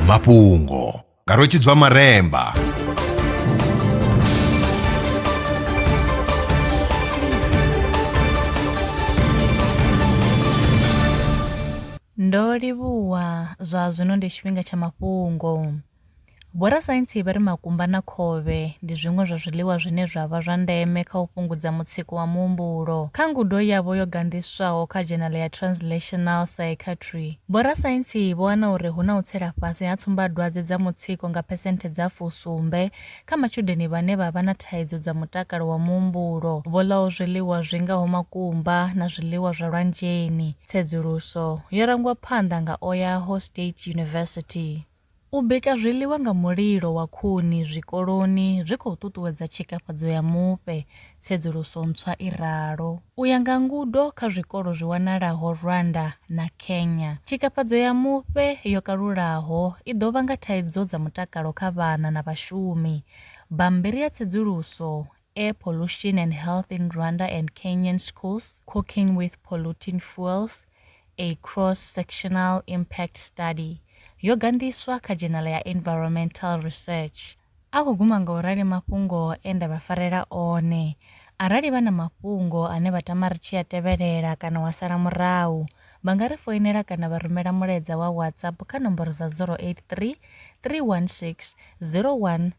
mafhungo nga rwetshidzwa maremba ndo livhuwa zwa zwino ndi tshifhinga tsha mafhungo Vhorasaintsi vha ri makumba na khovhe ndi zwiṅwe zwa zwiḽiwa zwine zwa vha zwa ndeme kha u fhungudza mutsiko wa muhumbulo. Kha ngudo yavho yo ganḓiswaho kha dzhenala ya Translational Psychiatry, vhorasaintsi vho wana uri hu na u tsela fhasi ha tsumbadwadze dza mutsiko nga phesenthe dza fusumbe kha matshudeni vhane vha vha na thaidzo dza mutakalo wa muhumbulo vho ḽaho zwiḽiwa zwi ngaho makumba na zwiḽiwa zwa lwanzheni. Tsedzuluso yo rangwa phanḓa nga Oahu State University. U bika zwiḽiwa nga mulilo wa khuni zwikoloni zwi khou ṱuṱuwedza tshikafhadzo ya mufhe, tsedzuluso ntswa i ralo. U ya nga ngudo kha zwikolo zwi wanalaho Rwanda na Kenya, tshikafhadzo ya mufhe yo kalulaho i ḓo vhanga thaidzo dza mutakalo kha vhana na vhashumi. Bammbiri ya tsedzuluso Air Pollution and Health in Rwanda and Kenyan Schools, Cooking with Polluting Fuels, A Cross-Sectional Impact Study, yogandiswa kha Journal ya Environmental Research. A khou guma nga u rali mafhungo e nda vha farela one. Arali vha na mafhungo ane vha tama ri tshi a tevhelela kana wa sala murahu, vha nga ri foinela kana vha rumela mulaedza wa WhatsApp kha nomboro dza 083 316 01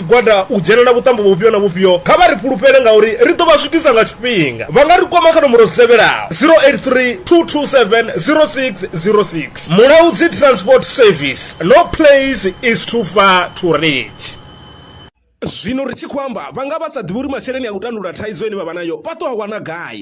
tshigwada u dzhenela vhuṱambo vhufhio na vhufhio, kha vha ri fhulufhele ngauri ri ḓo vha swikisa nga tshifhinga. Vha nga ri kwama kha nomboro dzi tevhelaho, 083 227 0606. Mulaudzi Transport Service, No place is too far to reach. Zwino ri tshi khou amba, vha nga vha sa ḓivhi uri masheleni a u tandulula thaidzo ine vha vha nayo vha tou a wana gai.